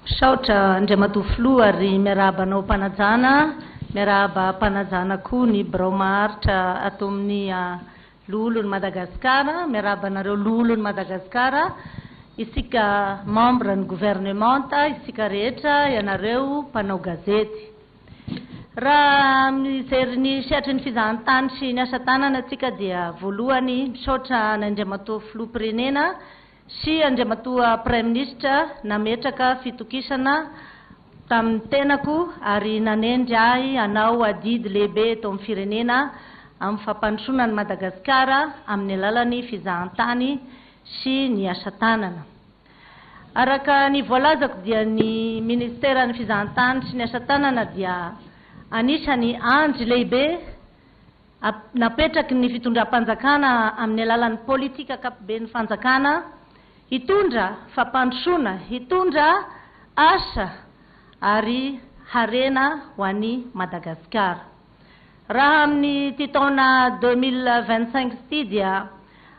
Misaotra Andriamatoa Filoha ary miarahaba anao Mpanajana, miarahaba Mpanajana koa ny Birao Maharitra ato amin'ny Loholon'i Madagasikara, miarahaba anareo Loholon'i Madagasikara, isika Membres ny Gouvernementa, isika rehetra, ianareo Mpanao Gazety. Raha mijery ny sehatry ny fizahantany sy ny asa tanana isika dia voalohany misaotra an'Andriamatoa Filoham-pirenena Sy Andriamatoa Praiminisitra nametraka fitokisana tamin'ny tenako ary nanendry ahy hanao adidy lehibe eto amin'ny firenena amin'ny fampandrosoana an'i Madagasikara amin'ny alalan'ny fizahantany sy ny asa tanana. Araka ny voalazako dia ny Ministeran'ny Fizahantany sy ny Asa Tanana dia anisany andry lehibe, napetraky ny fitondram-panjakana amin'ny alalan'ny politika ankapoben'ny fanjakana, hitondra fampandrosoana, hitondra asa ary harena ho an'i Madagasikara. Raha amin'ity taona deux mille vingt-cinq ity dia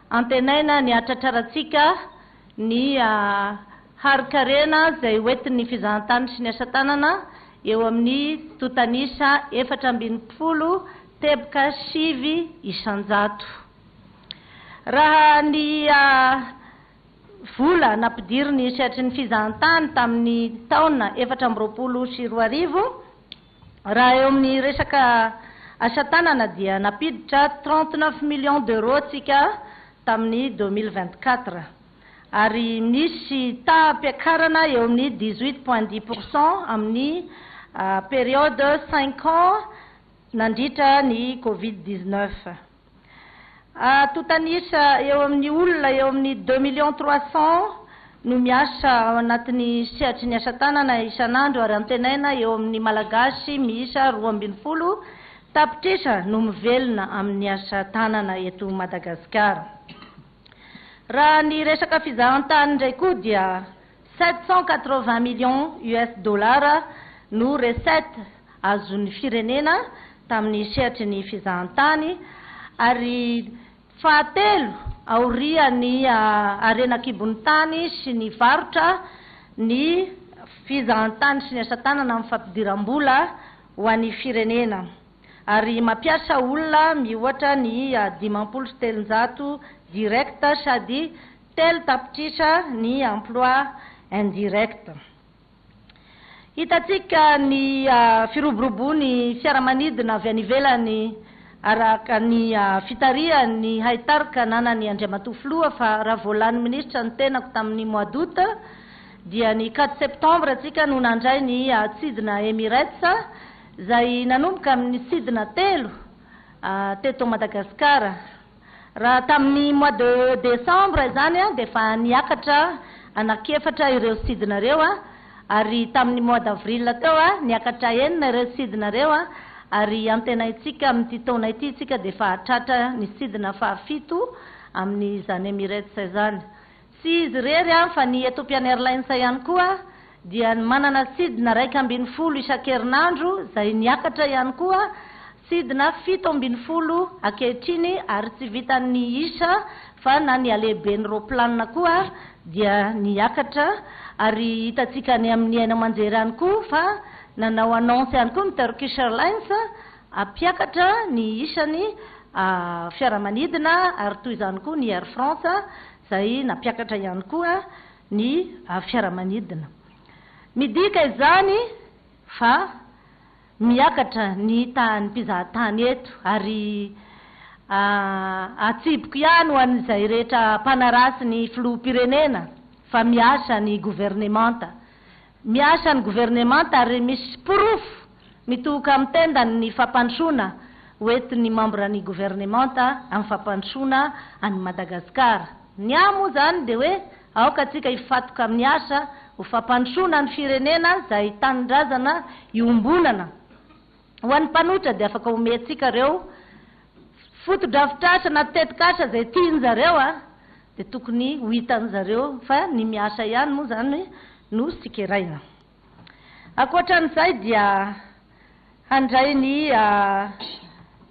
antenaina ny hahatratrarantsika ny harin-karena izay hoentin'ny fizahantany sy ny asa tanana eo amin'ny tontan'isa efatra ambin'ny folo teboka sivy isan-jato. Raha ny vola nampidiriny sehatry ny fizahantany tamin'ny taona efatra amby roapolo sy roa arivo, Raha eo amin'ny resaka asa tanana dia nampiditra trente neuf millions d'euros antsika tamin'ny deux mille vingt quatre ary nisy taham-piakarana eo amin'ny dix huit point dix pour cent amin'ny periode cinq ans nandritra ny covid dix neuf. Atotanisa eo amin'ny olona eo amin'ny deux millions trois cents no miasa ao anatin'ny sehatry ny asa tanana isan'andro ary antenaina eo amin'ny Malagasy miisa roa ambin'ny folo tapitrisa no mivelona amin'ny asa tanana eto Madagasikara. Raha ny resaka fizahantany indray koa dia. Sept cent quatre-vingts millions US dollars no recettes azon'ny firenena tamin'ny sehatry ny fizahantany ary fahatelo aorian'ny harena an-kibon'ny tany sy ny varotra ny fizahantany sy ny asa tanana amin'ny fampidiram-bola ho an'ny firenena ary mampiasa olona miohatra ny dimampolo sy telonjato directs sady Telo tapitrisa ny emploi indirect. Hitantsika ny firoborobon'ny fiaramanidina avy any ivelany araka ny fitarihan'ny haitarika ananan'i Andriamatoa Filoha fa raha vao lany minisitra ny tenako tamin'ny mois d'aout dia ny quatre septembre antsika no nandray ny tsidina Emirates izay nanomboka amin'ny sidina telo teto Madagasikara. Raha tamin'ny mois de décembre izany dia efa niakatra anankiefatra ireo sidinareo ary tamin'ny mois d'avril teo niakatra enina ireo sidinareo ary antenaintsika amin'ity taona ity isika dia efa hahatratra ny sidina fahafito amin'izany Emirates izany. Tsy izy irery fa ny Ethiopian Airlines ihany koa dia manana sidina iraika ambin'ny folo isan-kerinandro izay niakatra ihany koa sidina fito ambin'ny folo ankehitriny ary tsy vitan'ny isa fa na ny halehiben'ny roaplanina koa dia niakatra ary hitantsika any amin'ny haino aman-jery ihany koa fa nanao annonce ihany koa ny Turkish Airlines Hampiakatra ny isan'ny fiaramanidina ary toy izany koa ny Air France izay nampiakatra ihany koa ny fiaramanidina. Midika izany fa miakatra ny tahan'ny mpizahatany eto ary atsipiko ihany ho an'izay rehetra mpanaratsy ny filoham-pirenena fa miasa ny governemanta. Miasa ny governemanta ary misy porofo mitohoka amin'ny tendany ny fampandrosoana ho entin'ny mambra ny governemanta amin'ny fampandrosoana an'i Madagasikara. Ny ahy moa izany dia hoe aoka antsika hifatoka amin'ny asa ho fampandrosoana ny firenena izay tanindrazana iombonana. Ho an'ny mpanohitra dia afaka omentsika ireo fotodrafitrasa na tetikasa izay tian'zareo a! dia tokony ho hitan'zareo fa ny miasa ihany moa izany no sikeraina. Ankoatran'izay dia handray ny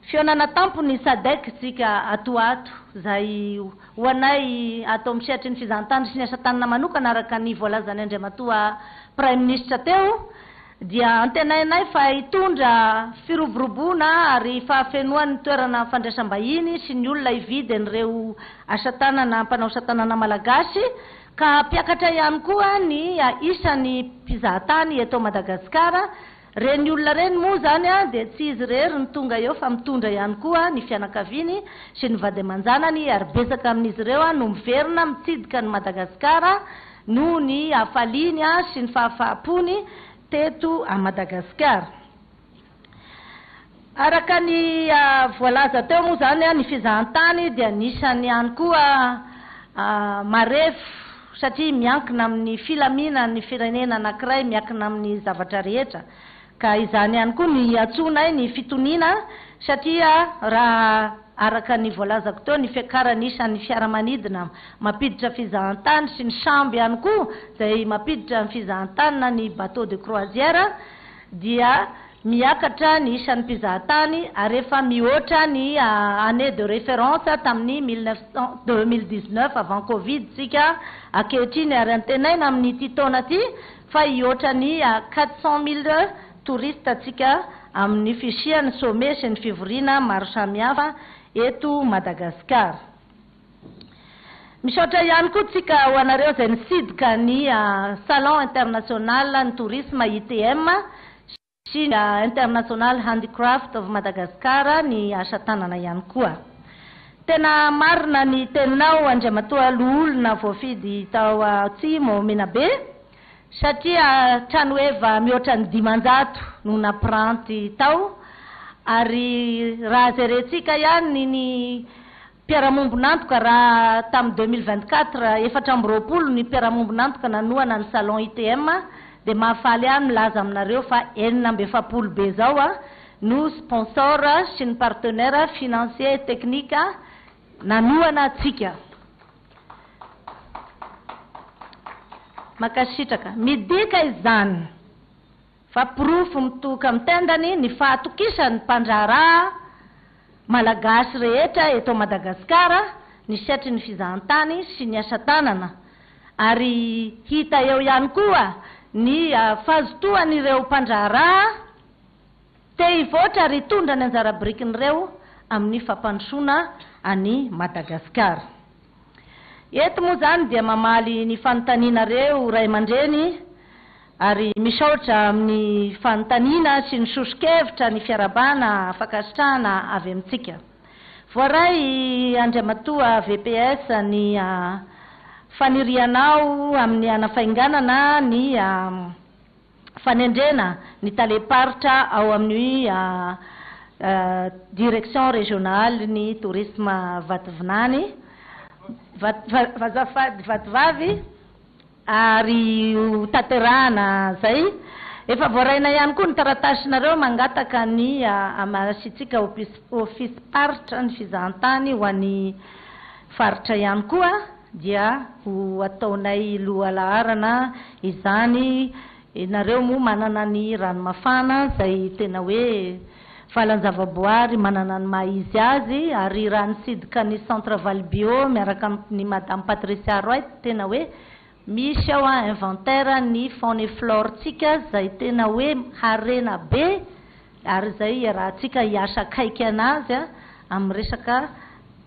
fihaonana tampo ny Sadec tsika ato ho ato izay ho anay ato amin'ny sehatry ny fizahantany sy ny asa tanana manokana araka ny voalazan'ny Andriamatoa Praiminisitra teo. dia antenainay fa hitondra firoboroboana ary fahafenoan'ny toerana fandraisam-bahiny sy ny olona hividy an'ireo asa tanana mpanao asa tanana malagasy ka hampiakatra ihany koa ny isan'ny mpizahatany eto Madagasikara, ireny olona ireny moa izany dia tsy izy irery no tonga eo fa mitondra ihany koa ny fianakaviany sy ny vady aman-janany ary betsaka amin'izy ireo no miverina mitsidika an'i Madagasikara noho ny hafaliany sy ny fahafaham-pony teto Madagasikara. Araka ny voalaza teo moa izany, ny fizahantany dia anisan'ny ihany koa marefo satria miankina amin'ny filaminan'ny firenena anankiray, miankina amin'ny zavatra rehetra. Ka izany ihany koa no iantsoanay ny fitoniana satria raha araka ny voalazako teo ny fiakaran'ny isan'ny fiaramanidina mampiditra fizahantany sy ny sambo ihany koa izay mampiditra ny fizahantany na ny bateau de croisière dia miakatra ny isan'ny mpizahatany ary efa mihoatra ny année de référence tamin'ny mille neuf cent deux mille dix-neuf avant covid tsika ankehitriny ary antenaina amin'ity taona ity fa hihoatra ny à quatre cent mille touristes tsika amin'ny fisian'ny sommet sy ny fivoriana maro samihafa eto Madagasikara. Misaotra ihany koa tsika ho anareo izay nisidika ny Salon international ny tourisme, ITM, sy. sy ny International Handicraft of Madagascar ny asa tanana ihany koa. Tena marina ny teninao Andriamatoa Loholona voafidy tao Atsimo Menabe satria tranoheva mihoatra ny dimanjato no nampiranty tao ary raha jerentsika ihany ny Mpiara-miombon'antoka raha tamin'ny deux mille vingt quatre efatra amby roapolo ny mpiara-miombon'antoka nanohana ny salon ITM dia mahafaly ahy ny milaza aminareo fa enina amby efapolo be izao no sponsor sy ny partenaire financier et technique nanohana antsika. Mankasitraka. Midika izany. fa porofo mitohoka amin'ny tendany ny fahatokisan'ny mpandraharaha Malagasy rehetra eto Madagasikara ny setrin'ny fizahantany sy ny asa tanana ary hita eo ihany koa ny fazotoan'ireo mpandraharaha te hivoatra ary hitondra ny anjara birikin'ireo amin'ny fampandrosoana an'i Madagasikara. Eto moa izany dia mamaly ny fanontanianareo ray aman-dreny ary misaotra amin'ny fanontaniana sy ny soso-kevitra ny fiarahabana fankasitrahana avy amintsika. Voaray i Andriamatoa VPS ny fanirianao amin'ny hanafainganana ny. fanendrena ny talem-paritra ao amin'ny direction régionale ny tourisme Vatovinany, Vazafady Vatovavy ary ho tanterahana izay. Efa voaraina ihany koa ny taratasinareo mangataka ny amasiantsika ofisim-paritra ny fizahantany ho an'ny faritra ihany koa. dia ho ataonay lohalaharana izany, ianareo moa manana ny ranomafana izay tena hoe valan-javaboary manana ny maha izy azy, ary raha nisidika ny centre Valo Bio miaraka amin'ny Madame Patricia Roy dia tena hoe misy ao inventaire ny faune et flore-ntsika izay tena hoe harena be Ary izay iarahantsika hiasa akaiky an'azy amin'ny resaka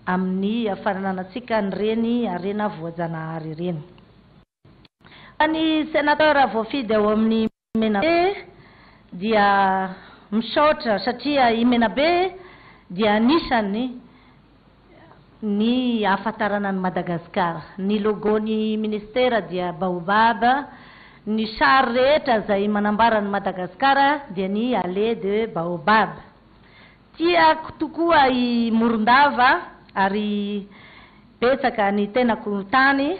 amin'ny fanananantsika an'ireny harena voajanahary ireny. Fa ny Sénateur voafidy ao amin'ny Menabe dia misaotra satria i Menabe dia anisan'ny. Ny ahafantarana an'i Madagasikara. Ny logo-n'ny Ministera dia Baobab, ny sary rehetra izay manambara an'i Madagasikara dia ny Allée de Baobab. Tiako tokoa i Morondava ary betsaka ny tenako tany.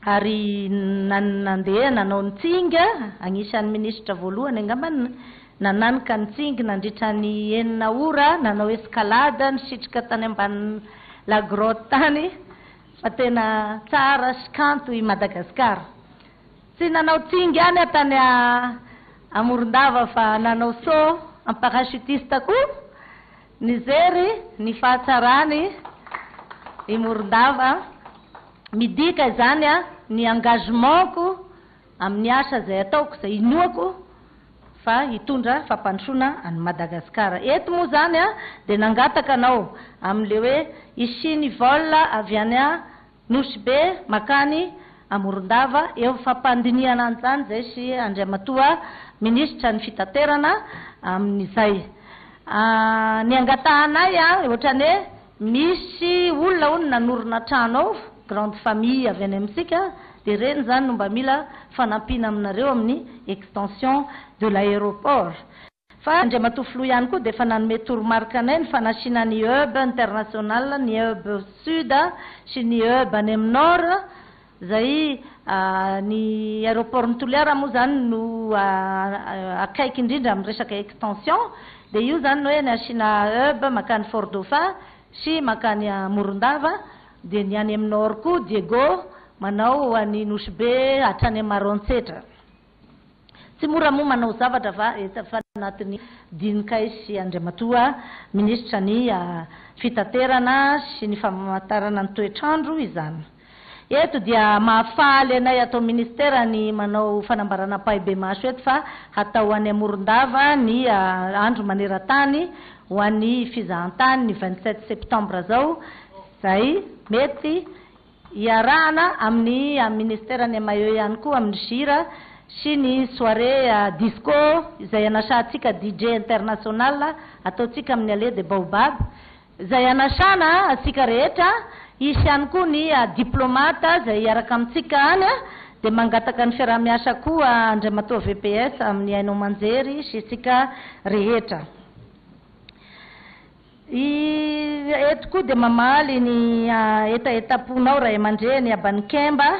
ary nandeha nanao ny tsinga, anisan'ny minisitra voalohany angamba ny nananika ny tsingy nandritra ny enina ora, nanao escalade, nisitrika tany ambany la grotte tany, fa tena tsara sy kanto i Madagasikara. Tsy nanao tsingy ihany aho tany Amorondava fa nanao saut en parachutiste koa, Nijery ny fahatsarany i Morondava, midika izany ny engagement-ko amin'ny asa izay ataoko, izay inoako fa hitondra fampandrosoana an'i Madagasikara. Eto moa izany dia nangataka anao amin'ilay hoe hisiany vol avy any Nosy-be makany Amorondava eo ny fampandinihana an'izany izay sy Andriamatoa Minisitra ny Fitaterana amin'izay niangatahanay ohatrany hoe misy olona hono nanorina trano ao, grande famille avy any amintsika dia ireny izany no mba mila fanampiana aminareo amin'ny extension de l'aéroport. Fa Andriamatoa Filoha ihany koa dia efa nanome toromarika anay ny fanasina ny hub international, ny hub sud sy ny hub any amin'ny nord, izay ny aeroport-n'i Toliara moa izany no akaiky indrindra amin'ny resaka extension, dia io izany hoe ny asiana hub mankany Fort Dauphin sy mankany Morondava, dia ny any amin'ny nord koa Diego manao ho an'i Nosy Be hatrany amin'ny Maroantsetra. Tsy mora moa manao zavatra fa efa anatin'ny dininkay sy Andriamatoa Minisitra ny Fitaterana sy ny Famantarana ny toetr'andro izany. Eto dia mahafaly anay ato Ministera ny manao fanambarana ampahibemaso eto fa hatao any Morondava ny andro manerantany ho an'ny fizahantany ny vingt-sept septembre zao izay mety Iarahana amin'ny Ministère ny Maillot ihany koa amin'ny Gira sy ny soirée disco izay anasahantsika DJ international ataontsika amin'ny Allée des Baobabs izay anasana antsika rehetra, hisy ihany koa ny Diplomate izay hiaraka amintsika any dia mangataka ny fiarahamiasa koa Andriamatoa VPS amin'ny haino aman-jery sy isika rehetra. I eto koa dia mamaly ny hetahetam-ponao ray aman-dreny Abanikemba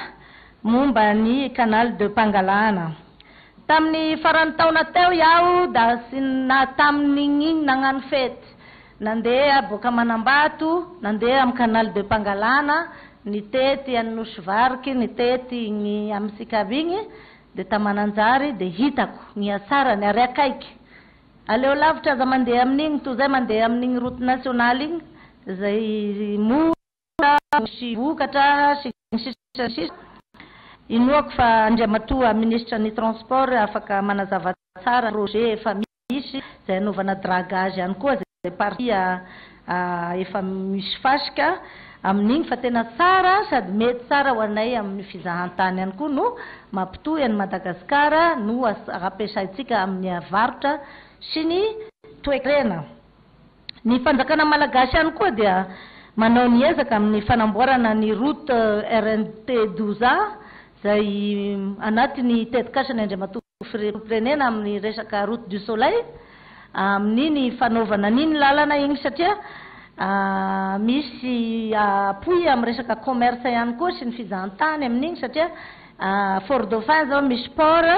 momba ny Canal de Pangalana. Tamin'ny faran'ny taona teo iaho das na tamin'igny nagnano fety nandeha boaka Manambato nandeha amin'ny Canal de Pangalana nitety any Nosy Variky nitety igny amin'ny Sikavy igny dia ta Mananjary dia hitako ny hatsarany ary akaiky Aleo lavitra aza mandeha amin'igny toy zay mandeha amin'igny route nationale igny zay mora misy vokatra sy ny sisa sy ny sisa. Inoako fa Andriamatoa Ministra ny transport afaka manazava tsara ny projet efa misy zay anaovana dragage any koa zay partie Ahh efa misy fasika amin'iny fa tena tsara sady mety tsara ho anay amin'ny fizahantany ihany koa no mampitohy an'i Madagascar no ampiasaintsika amin'ny varotra sy ny toekarena. Ny fanjakana malagasy ihany koa dia manao ny ezaka amin'ny fanamboarana ny route rnp douze a izay anatin'ny tetikasany Andriamatoa. Ho firempirenena amin'ny resaka route du soleil amin'ny ny fanaovana an'iny lalana iny satria misy appui amin'ny resaka commerce ihany koa sy ny fijahantany amin'iny satria fort dauphin zao misy port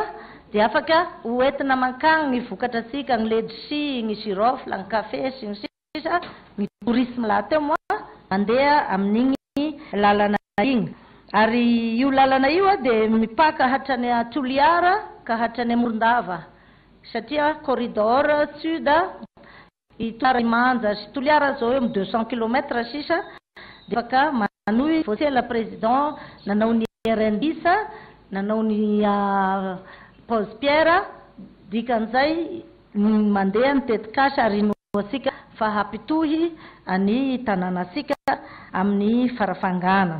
dia afaka ho entina mankany ny vokatra antsika ny ledsi, ny girofle, ny café sy ny sisa. satria ny tourisme lahateo moa mandeha amin'igny lalana igny ary io lalana io dia mipaka hatrany à Toliara ka hatrany à Morondava satria corridor sud i Toliara Imanja sy Toliara zao eo amin'ny deux cent kilomètre sisa dia afaka manohy vao tsy ela président nanao ny RNBis nanao ny à Pause Pierre dikan'izay ny mandeha ny tetikasa ary inoantsika fa hampitohy an'i tanànantsika amin'ny farafangana.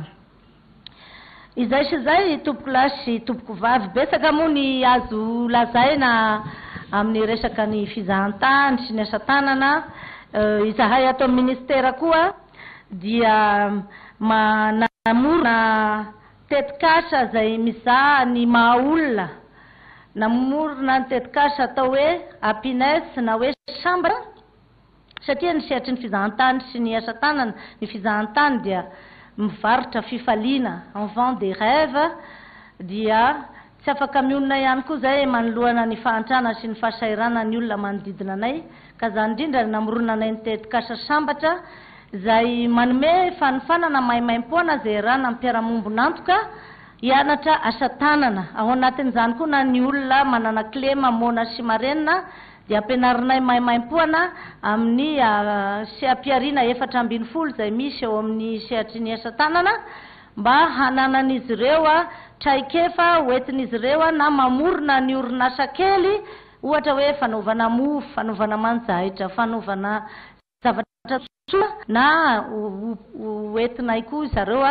Izay sy izay tompoko lahy sy tompoko vavy, betsaka moa ny azo lazaina amin'ny resaka ny fizahantany sy ny asa tanana, izahay ato amin'ny Ministera koa dia manamorona Tetikasa izay mizaha ny maha olona. Namorona ny tetikasa atao hoe Happiness na hoe Sambatra satria ny sehatry ny fizahantany sy ny asa tanana, ny fizahantany dia mivarotra fifaliana, on vend des rêves, dia Tsy afaka mionona ihany koa izay manoloana ny fahantrana sy ny fahasahiranana ny olona manodidina anay ka izany indrindra no namorona anay ny tetikasa Sambatra izay manome fanofanana maimaimpoana izay iarahana amin'ny mpiara-mombon'antoka hianatra asa tanana. Ao anatin'izany koa na ny olona manana kilema moana sy marenina dia ampianarinay maimaimpoana amin'ny seha-pihariana efatra ambin'ny folo izay misy ao amin'ny sehatry ny asa tanana mba hananan'izy ireo traikefa hoentin'izy ireo na mamorona ny orinasa kely ohatra hoe fanaovana mofo, fanaovana manjaitra, fanaovana zavatra soa na hoentinay koa zareo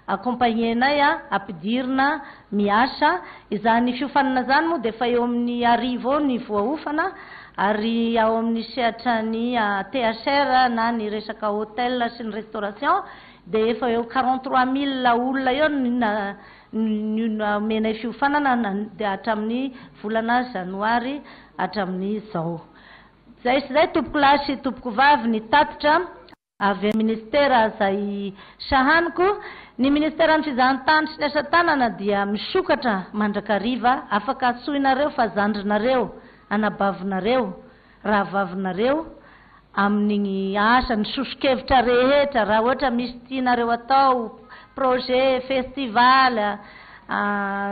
accompagner-nay ampidirina miasa. Izany fiofanana izany moa dia efa eo amin'ny arivo eo ny voaofana ary ao amin'ny sehatran'ny THR na ny resaka hotel sy ny restauration dia efa eo quarante trois mille olona eo no nomenay fiofanana dia hatramin'ny volana janoary hatramin'izao. Izay sy izay tompokolahy sy tompokovavy ny tatitra. Avy amin'ny ministera izay sahaniko, ny ministeran'ny fizahantany sy ny asa tanana dia misokatra mandrakariva, afaka antsoinareo fa zandrinareo, anabavinareo. rahavavinareo amin'igny asa ny soso-kevitra rehetra raha ohatra misy tianareo atao projet, festival,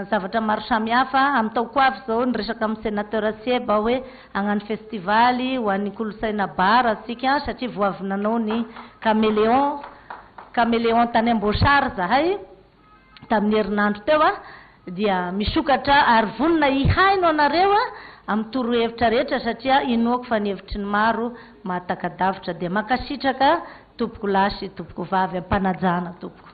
zavatra maro samihafa amin'ny taoko ho avy zao niresaka amin'ny senateur Sieb aho hoe hagnano festival ho an'ny kolontsaina bar tsika satria vao avy nanao ny cameleon cameleon tany Amboasary zahay, tamin'ny herinandro teo dia misokatra ary vonona hihaino anareo amin'ny torohevitra rehetra satria inoako fa ny hevitry ny maro mahataka-davitra dia mankasitraka tompoko lahy sy tompoko vavy am-panajana tompoko.